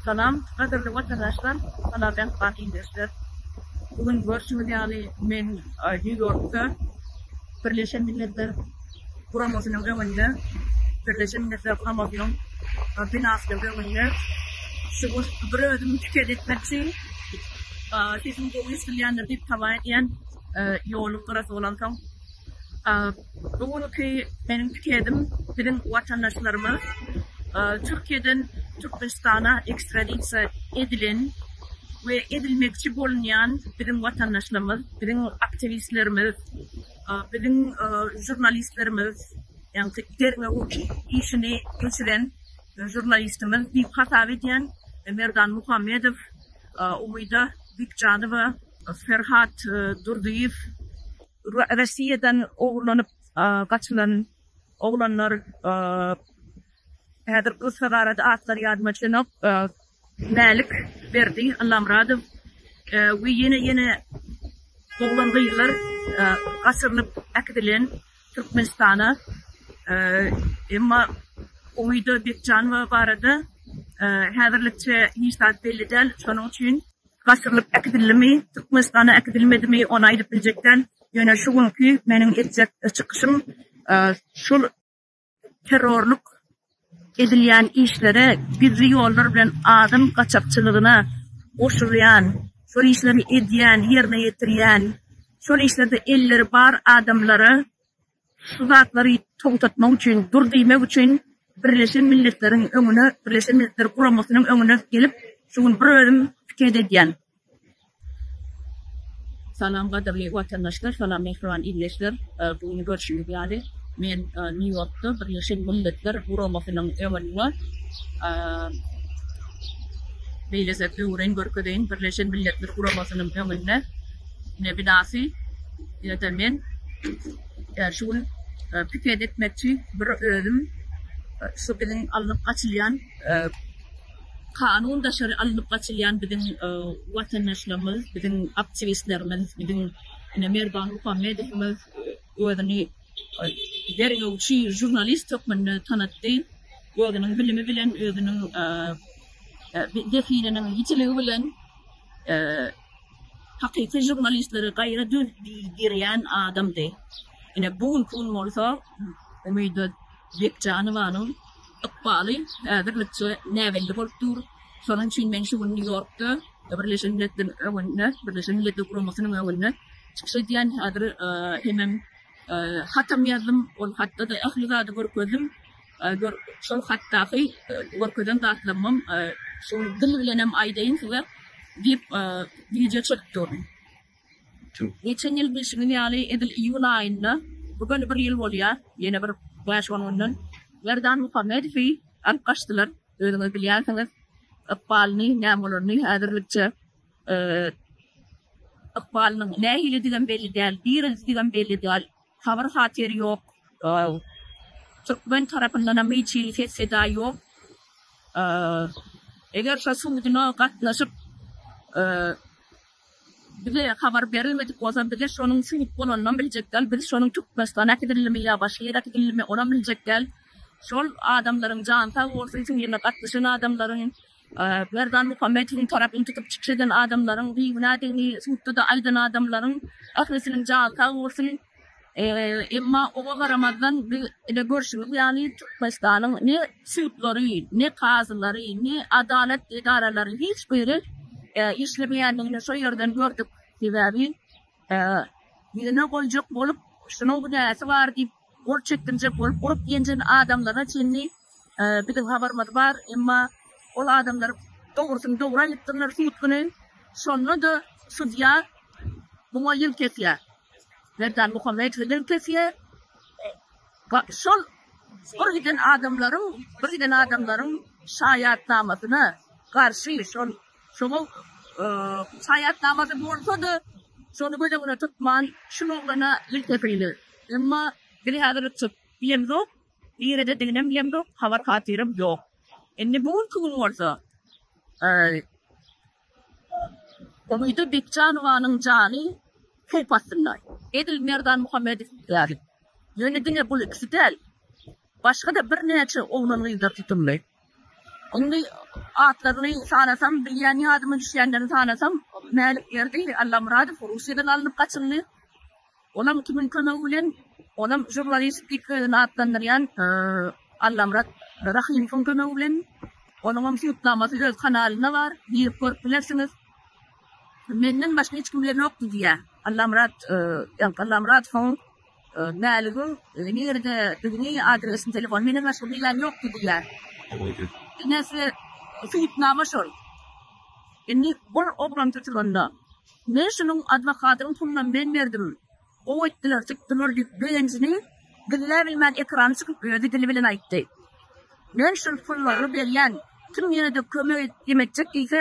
Salam, gadyrly watandaşlar, salam mähriban ildeşler! Bu gün görşüňiz ýaly, men Nýu-Ýorkda Birleşen Milletler Guramasynyň öňünde, Birleşen Milletler Guramasynyň binasynyň öňünde şu goşgy bir özüm şikes etmekçi. Sesim gowy eşidilýändir diýip, hawa edýän, ýoluň gyrasy bolansoň. Bu günki meniň pikedim biziň watandaşlaryma Türkiýeden Türkmenistana ekstradisiýa edilen we edilmekçi bolunýan biziň watandaşlarymyz, biziň aktiwistlerimiz, biziň žurnalistlerimiz, ýagny derňew işini geçiren žurnalistimiz diýip hasap edýän Merdan Muhammedow, Umyda Bikjanowa, Ferhat Durdyýew, Rossiýadan ogurlanyp gaçylan oglanlar häzir gyssagarada atlary ýadyma düşenok, Mälik Berdi, Allamyradow we ýene ýene oglan gyzlar gaçyrylyp äkidilen Türkmenistana emma Umyda Bekjanowa barada häzirlikçe hiç zat belli däl şonuň üçin Gaşyrylyp äkidildimi, Türkmenistana äkidilmedimi, ony aýdyp biljek däl. Ýöne şu günki meniň etjek çykyşym şol terrorlyk edilýän işlere, gizli ýollar bilen adam gaçakçylygyna goşulýan, şol işleri edýän, ýerine ýetirýän, şol işlerde elleri bar adamlara Şu zatlary togtatmak üçin, dur diýmek üçin Birleşen Milletleriň öňüne, Birleşen Milletler Guramasynyň öňüne gelip, şu gün bir özüm piket edýän. Salam gadyrly watandaşlar, salam mähriban ildeşler. Bu gün görşüňiz ýaly, men Nýu-Ýorkda Birleşen Milletler Guramasynyň öňünde beýlese öwren görkezeýin, Birleşen Milletler Guramasynyň öňünde. Ine binasy ýa-da men şu gün piket etmekçi bir özüm şu biziň alnyp gaçylýan kanun daşary alnyp gaçylýan biziň watandaşlarymyz, biziň aktiwistlerimiz, biziň ine Merdan Muhammedowymyz özüni derňewçi žurnalist hökmünde tanatdy. Özüniň bilimi bilen, özüniň zehininiň ýitiligi bilen Hakyky žurnalistleri gaýra döwdirýän adamdy. Ine, bu günki gün bolsa Umyda Bekjanowanyň ykbaly häzirlikçe näbelli bolup dur. Şonuň üçin men şu gün Nýu-Ýorkda Birleşen Milletler öňünde, Birleşen Milletler Guramasynyň öňünde çykyş edýän. Häzir hemem hatam ýazdym. Ol hatda-da ähli zady görkezdim. Gör, şol hatdaky görkezen zatlarymam şol dil bilenem aýdaýyn size diýip, wideo çekip durun. Geçen ýyl bilşiňiz ýaly, edil iýul aýynda, bu göni bir ýyl bolýar, ýene bir bäş-on günden Merdan Muhammedowy alyp gaçdylar. Özüňiz bilýänsiňiz ykbalyny, näme bolaryny. Häzirlikçe ykbalynyň nähilidigem belli däl, direldidgem belli däl. Habar-hatyr ýok. Türkmen tarapyndanam hiç hili ses-seda ýok. Eger şo suduna gatnaşyp, bize habar berilmedik bolsa, bize şonuň sud bolanynam biljek däl. Biz şonuň Türkmenistana äkidilendimi ýa başga ýere äkidilendimi, onam biljek däl. Şol adamlaryň jany sag bolsun, şu ýerine gatnaşan adamlaryň. Merdan Muhammedowň tarapyny tutup çykyş eden adamlaryň bigünädigini sudda-da aýdan adamlaryň ählisiniň jany sag bolsun. Emma oňa garamazdan biz edil görşümiz ýaly Türkmenistanyň ne sudlary, ne kazylary, ne adalat edaralary hiç biri işlemeýändigini şo ýerden gördük. Sebäbi ýüzüne goýjak bolup şunuň günäsi bar diýip Gol çekdirjek bolup urup-ýenjen adamlaryna çenli biziň habarymyz bar, emma ol adamlar dogrusyny dogry aýdypdyrlar sud güni. Şonda-da sudýa muňa ýüz kesýär. Merdan Muhammedowa ýüz kesýär. Şol bir giden adamlaryň, bir giden adamlaryň şaýatnamasyna garşy şol Şoňa şaýatnamada bolsa-da, şony göz öňüne tutman, şul oglana il kepili. Emma biz häzir çyp bilemzok, niredediginem bilemzok, habar-hatyrym ýok. Indi bu günki gün bolsa, Umyda Bekjanowanyň jany howp astynda, edil Merdan Muhammedow ýaly. Ýöne diňe bul ikisi däl, başga-da birnäçe oglan-gyzlar tutuldy. Indi atlaryny sanasam, bilýän ýadyma düşýänlerini sanasam, Mälikberdi Allamyradow Russiýadan alnyp gaçyldy. Olam kimiň kömegi bilen, olam žurnalistik özüni atlandyrýan Allamyrat Rahymowyň kömegi bilen. Onuňam subutnamasy öz kanalynda bar, girip görüp bilersiňiz. Menden başga hiç kimde ýokdy diýýär. Allamyrat Allamyradowyň Mäligiň nirede digini adresini telefon menden başga bilýän ýokdy diýýär. Enesi subutnama şol. Indi bul oglan tutulanda men şunuň adwokatynyň pulunam men berdim gowy etdiler tutdular diýip begenjini gizläbilmän ekrana çykyp özi dili bilen aýtdy. Men şul pullary berýän kim ýenede kömek edip etjek diýse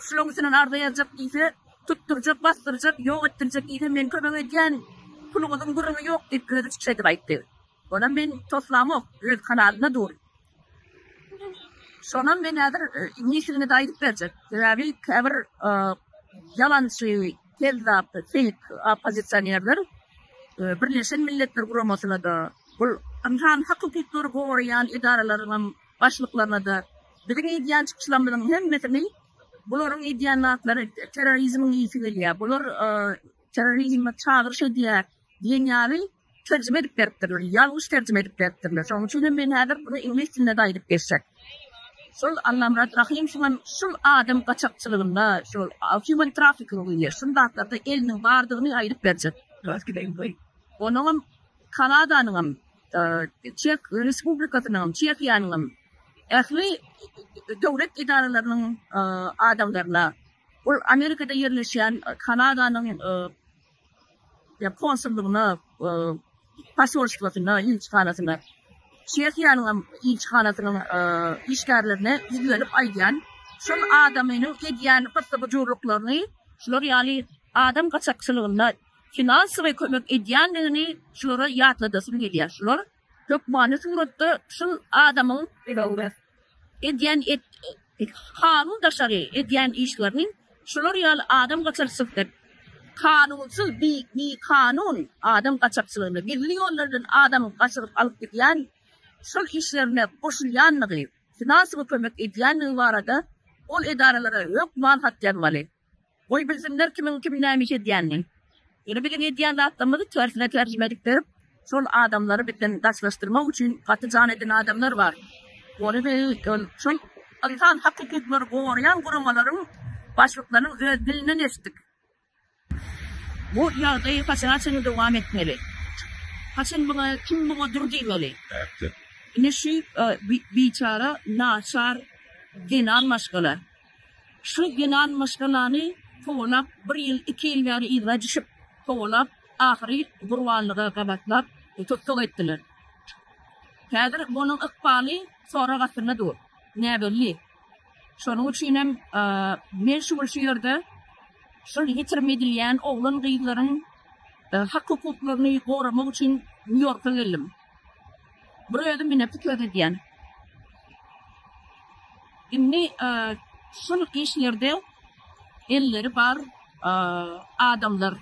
şulaň üstünden arza ýazjak diýse Tutdurjak, basdyrjak, ýok etdirjek işe men kömek edýän puluňyzyň gürrüňi ýok diýip, özi çykyş edip aýtdy. Onam men toslamok, öz kanalynda dur. Şonam men häzir njisigini-de aýdyp berjek. Sebäbi käbir ýalançy, kezzap, feýk oppozisionerler Birleşen Milletler Guramasyna-da, bul ynsan hak-hukuklary goraýan edaralaryňam başlyklaryna-da biziň edýän çykyşlarymyzyň hemmesini Bularyň edýän zatlary terrorizmiň ysy gelýär, bular terrorizme çagyryş edýär diýen ýaly terjime edip beripdirler, ýalňyş terjime edip beripdirler. Şonuň üçin hem men häzir muny iňlis dilinde-de aýdyp geçjek. Şol Allamyrat Rahym şuňa şul adam gaçakçylygynda, şol human trafficking diýilýär, şul zatlarda eliniň bardygyny aýdyp berjek. Onuňam Kanadanyňam Çeh Respublikasynyň, Çehiýanyňam ähli döwlet edaralarynyň adamlaryna, ol Amerikada ýerleşýän Kanadanyň konsullygyna, posolstwasyna, ilçihanasyna, Çehiýanyňam ilçihanasynyň işgärlerine ýüzlenip aýdýan, şol adamynyň edýän gyssy-gujurlyklaryny, şular ýaly adam gaçakçylygynda finansowy kömek edýändigini şulara ýatladasym gelýär. Şular hökmany suratda şul adamyň edýän kanun daşary edýän işlerini şular ýaly adam gaçakçylykda kanunsyz bikanun adam gaçakçylygynda gizli ýollardan adam gaçyryp alyp gidýän şol işlerine goşulýandygy finansowy kömek edýändigi barada ol edaralara hökman hat ýazmaly. Goý bilsinler kimiň kim näme iş edýänini. Ýöne biziň edýän zatlarymyzy tersine terjime edip berip, şol adamlary bizden daşlaşdyrmak üçin gaty jan eden adamlar bar. Ony biz ol şol ynsan hak hukuklary goraýan guramalaryň başlyklarynyň öz dilinden eşitdik. Bu ýagdaý haçana çenli dowam etmeli? Haçan muňa kim muňa dur diýmeli? Ine şu biçara naçar zenan maşgala. Şu ýylan maşgalany kowalap, bir ýyl, iki ýyl bäri yzga düşüp kowalap, ahyry gurbanlyga gabatlap tussag etdiler. Häzir onuň ykbaly sorag astynda dur. Näbelli. Şonuň üçinem men şu gün şu ýerde şol ýitirim edilýän oglan-gyzlaryň hak-hukuklaryny goramak üçin Nýu-Ýorka geldim. Bir özüm ine pikir edýän. Indi e, şul işlerde elleri bar e, adamlar.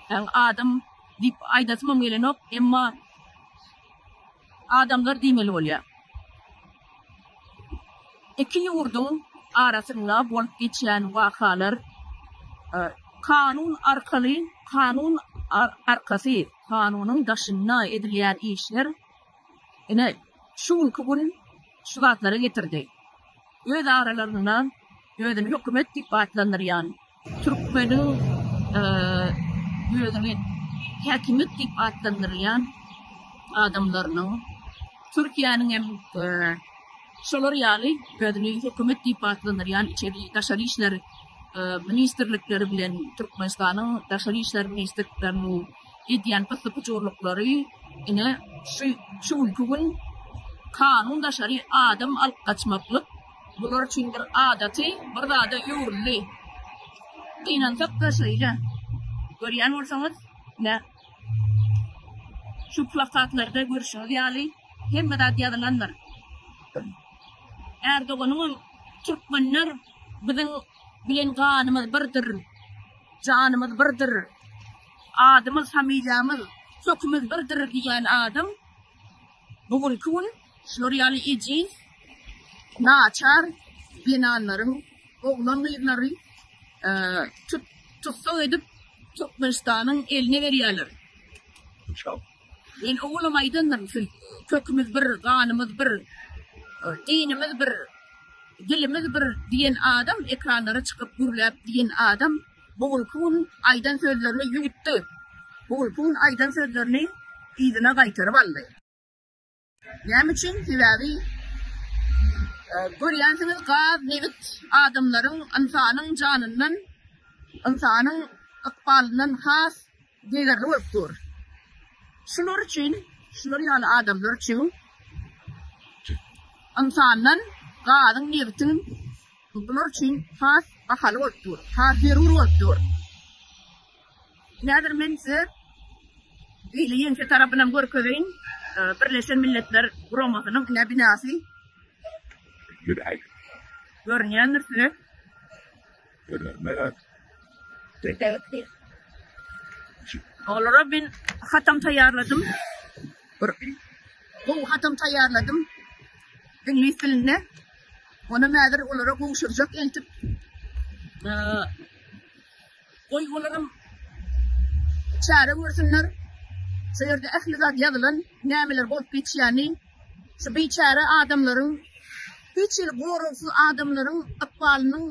Yani adam diýip aýdasym gelenok, emma adamlar diýmeli bolýar. Iki ýurduň arasynda bolup geçýän wakalar kanun arkaly, kanun arkasy, kanunyň daşynda edilýän işler ine, şu günki gün şu zatlara getirdi. Öz aralarynda özüni hökümet diýip atlandyrýan. Türkmeniň özüni häkimiýet diýip atlandyrýan adamlarynyň, Türkiýäniň hem şolar ýaly özüni hökümet diýip atlandyrýan içeri, daşary işler ministrlikleri bilen Türkmenistanyň daşary işler ministrlikleriniň edýän pyssy-pyjurlyklary ine şu günki gün kanun daşary adam alyp gaçmaklyk Bular üçin bir adaty bir zada öwrüldi. Gynansak-da şeýle. Görýän bolsaňyz, ine, şu plakatlarda görşüňiz ýaly, hemme zat ýazylandyr. Erdoganyňam Türkmenler biziň bilen ganymyz birdir, janymyz birdir, adymyz, familiýamyz, kökümiz birdir diýýän adam bu günki gün Şular ýaly ejiz, naçar zenanlaryň oglan-gyzlary tut-tussag edip, Türkmenistanyň eline berýärler. Men owalam aýdandyryn, siz Kökümiz bir, ganymyz bir, dinimiz bir, dilimiz bir diýen adam, ekranlara çykyp gürläp diýen adam bu günki gün aýdan sözlerini ýuwutdy. Bu günki gün aýdan sözlerini yzyna gaýtaryp aldy. Näme üçin? Sebäbi görýänsiňiz gaz, nebit adamlaryň, ynsanyň janyndan, ynsanyň ykbalyndan has degerli bolup dur. Şular üçin, şular ýaly adamlar üçin ynsandan gazyň, nebitiň bular üçin has bahaly bolup dur, has zerur bolup dur. Häzir men size hili ýeňse tarapynam görkezeýin. Birleşen Milletler Guramasynyň ine binasy. Görünýändir size. Görünmez. Dökdüler. Olara men hatam taýýarladym. Bir gowy hatam taýýarladym. Iňlis dilinde. Ony häzir olara gowşurjak entip. Goý olaram çäre görsünler. Şu ýerde ähli zat ýazylan, nämeler bolup geçýäni. Şu biçäre adamlaryň, hiç hili goragsyz adamlaryň ykbalynyň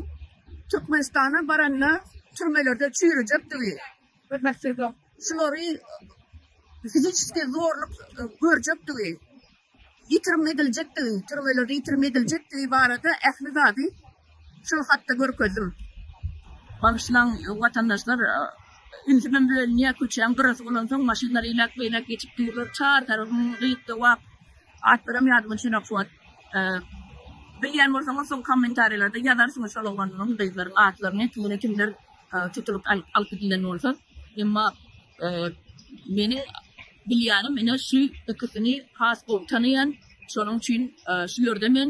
Türkmenistana baranda türmelerde çüýrejekdigi, şulary fiziçeskiý zorluk görjekdigi, ýitirim ediljekdigi, türmeler ýitirim ediljekdigi barada ähli zady şol hatda görkezdim. Bagyşlaň watandaşlar, ünsümem bölünýär, köçäň gyrasy bolansoň maşynlar eýläk-beýläk geçip durlar, çar tarapym gyt gowak, atlaram ýadymda düşenok şu wagt. Bilýän bolsaňyz soň kommentariýalarda ýazarsyňyz şol oglanlaryň, gyzlaryň atlaryny, tutuny kimler tutulyp alyp gidilen bolsa, emma Meni bilýänim ine şu ikisini has gowy tanaýan. Şonuň üçin şu ýerde men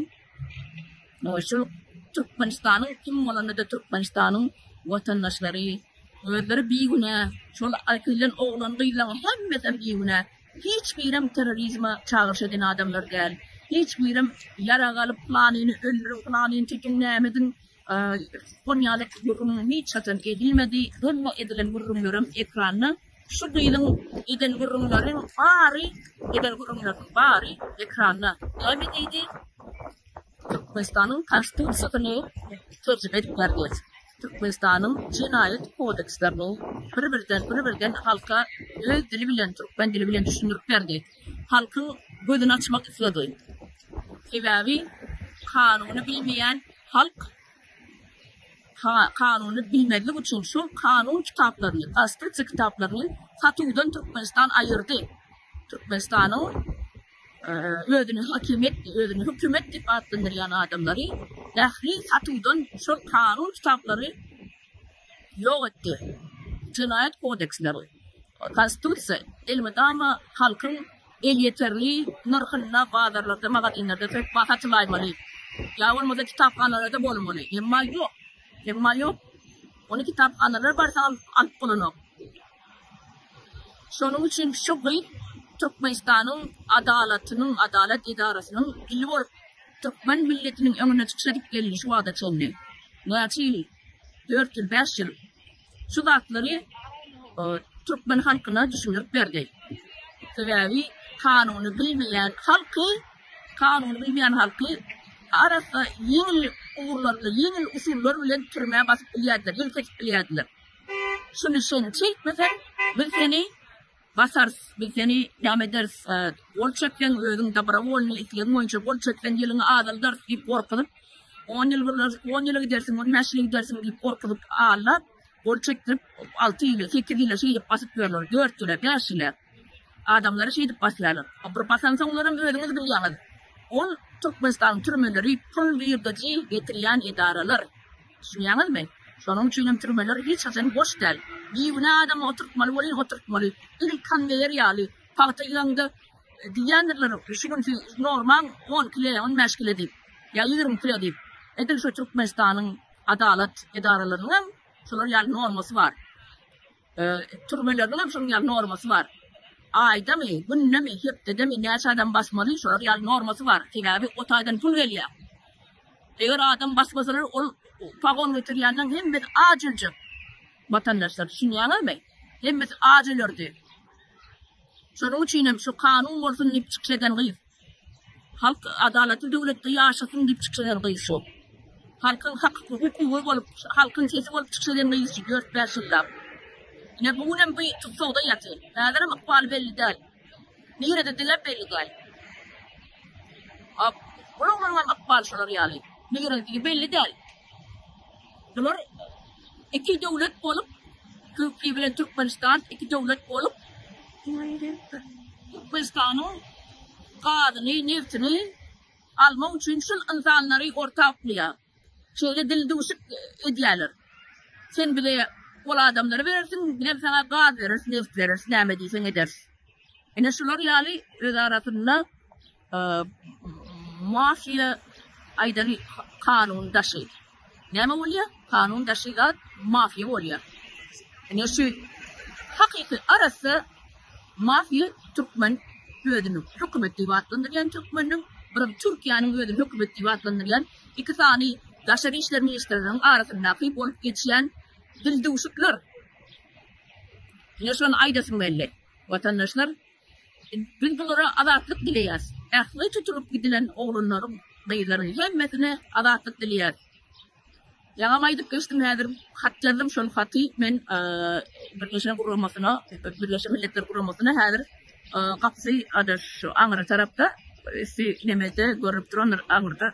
şu Türkmenistanyň kim bolanda-da Türkmenistanyň watandaşlary özleri bigünä, şol aýkylan oglan-gyzlaryň hemmesem bigünä. Hiç birem terrorizme çagyryş eden adamlar däl. Hiç birem ýarag alyp, planyny öldüriň, planyny çekiň, näme ediň, Koniýaly gürrüň hiç haçan edilmedi, doly edilen gürrüňlerem ekranda. Şu gyzyň eden gürrüňleriň bary, eden gürrüňleriniň bary ekranda. Näme diýdi? Türkmenistanyň Konstitusiýasyny terjime edip berdi. Türkmenistanyň jenaýat kodekslerini bir-birden, bir-birden halka öz dili bilen, türkmen dili bilen düşündirip berdi. halkyň gözüni açmak isledi. Sebäbi kanuny bilmeýän halk kanuny bilmezlik üçin şol kanun kitaplaryny, konstitusiýa kitaplaryny satuwdan Türkmenistan aýyrdy. Türkmenistanyň özüni hakimiýet, özüni hökümet diýip atlandyrýan adamlary ähli satuwdan şol kanun kitaplary ýok etdi. Jenaýat kodeksleri, Konstitusiýa, elmydama halkyň elýeterli nyrhynda bazarlarda, magazinlerde söküp satylaýmaly ýa bolmasa kitaphanalarda bolmaly. Emma ýok. Emma ýok. Ony kitaphanalar barsa alyp bolanok. Şonuň üçin şu gyz Türkmenistanyň adalatynyň, adalat edarasynyň ili bolup, türkmen milletiniň öňüne çykyş edip geldi şu wagta çenli. Näçe ýyl. dört ýyl, bäş ýyl şu zatlary türkmen halkyna düşündirip berdi. Sebäbi kanuny bilmeýän halky, kanuny bilmeýän halky arassa ýeňil ugurlarda, ýeňil usullar bilen türmä basyp bilýärdiler, ýelkeşip bilýärdiler. Şuny sen çekmesen, biz seni Basarys, biz seni dam ederis. Gol çekseň, özüň dobrowolnyý, islegiň boýunça gol çekseň, ýylyňy azaldarys diýip gorkuzyp, on ýyl gyrnar, on ýyla gidersiň, on bäş ýyla gidersiň diýip gorkuzyp, allap, gol çekdirip, alty ýyla, sekiz ýyla şeýdip basyp ýörler, dört ýyla, bäş ýyla. Adamlary şeýdip basýarlar. Bir basansoňlaram özüňiz bilýäňiz. Ol Türkmenistanyň türmeleri pul girdeji getirýän edaralar. Düşünýäňizmi? Şonuň üçin hem türmeler hiç haçan boş däl. Bigünä adamy oturtmaly welin oturtmaly. Iri konweýer ýaly. Pagta ýygyňda diýýändirler şu gün siz normaň on kile, on bäş kile diýip. Ýa ýigrimi kile diýip. Edil şu Türkmenistanyň adalat edaralarynyň hem şular ýaly normasy bar. Türmeleriň hem şonuň ýaly normasy bar. Aýdamy, günnemi, hepdedemi näçe adam basmaly, şolar ýaly normasy bar. Sebäbi o taýdan pul gelýär. Eger adam basmasalar, ol pagon getirýänden hemmesi aç öljek. Watandaşlar, düşünýäňizmi? Hemmesi aç ölerdi. Şonuň üçin hem şu kanun bolsun diýip çykyş eden gyz. Halk adalatly döwletde ýaşasyn diýip çykyş eden gyz şu. Halkyň hak hukugy bolup, halkyň sesi bolup çykyş eden gyz şu dört-bäş ýyllap. Ine bu günem bu tussagda ýatyr. Häzirem ykbaly belli däl. Nirede diläp belli däl. Ap, bu oglanlaryň ykbaly şular ýaly. Nirededigi belli däl. Bular iki döwlet bolup, Türkiýe bilen Türkmenistan iki döwlet bolup, Türkmenistanyň gazyny, nebtini almak üçin şul ynsanlary orta uklaýar. Şeýle dildüwşük edýärler. Sen bize ol adamlary berersiň, bizem saňa gaz bereris, neft bereris, näme diýseň ederis. Ine şular ýaly özarasynda Mafiýa aýdan kanun daşy. Näme bolýa? Kanun daşy zat mafiýa bolýa. Ine şu hakyky arassa mafiýa türkmen özüni hökümet diýip atlandyrýan türkmeniň birim Türkiýäniň özüni hökümet diýip atlandyrýan iki sany daşary işler ministrleriniň arasyndaky bolup geçýän dildüwşükler. Ine şony aýdasym geldi. Watandaşlar Biz bulara azatlyk dileýäs. Ähli tutulyp gidilen oglanlaryň, gyzlaryň hemmesine azatlyk dileýäs. Ýaňam aýdyp geçdim, häzir hat ýazdym. Şol haty men Birleşen guramasyna, Birleşen Milletler guramasyna häzir gapysy ada şu aňry tarapda, üsti nemede görnüp durandyr aňyrda.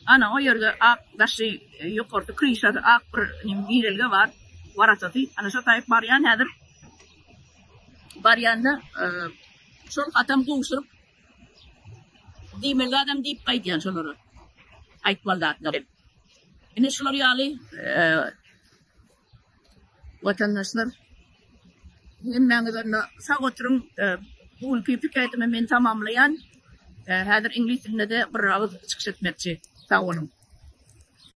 Ana, o ýerde ak daşy, ýokarky kryşasy ak bir girelge bar, warasaty. Ana, şo taýyp barýan häzir. Barýanda şol hatam gowşuryp diýmeli zadam diýip gaýdýan şolara. Aýtmaly zatlar. Ine şular ýaly watandaşlar hemmäňiz onda sag oturyň. Bu günki pikirimi men tamamlaýan. Häzir iňlis dilinde-de bir agyz çykyş etmekçi. Sag boluň.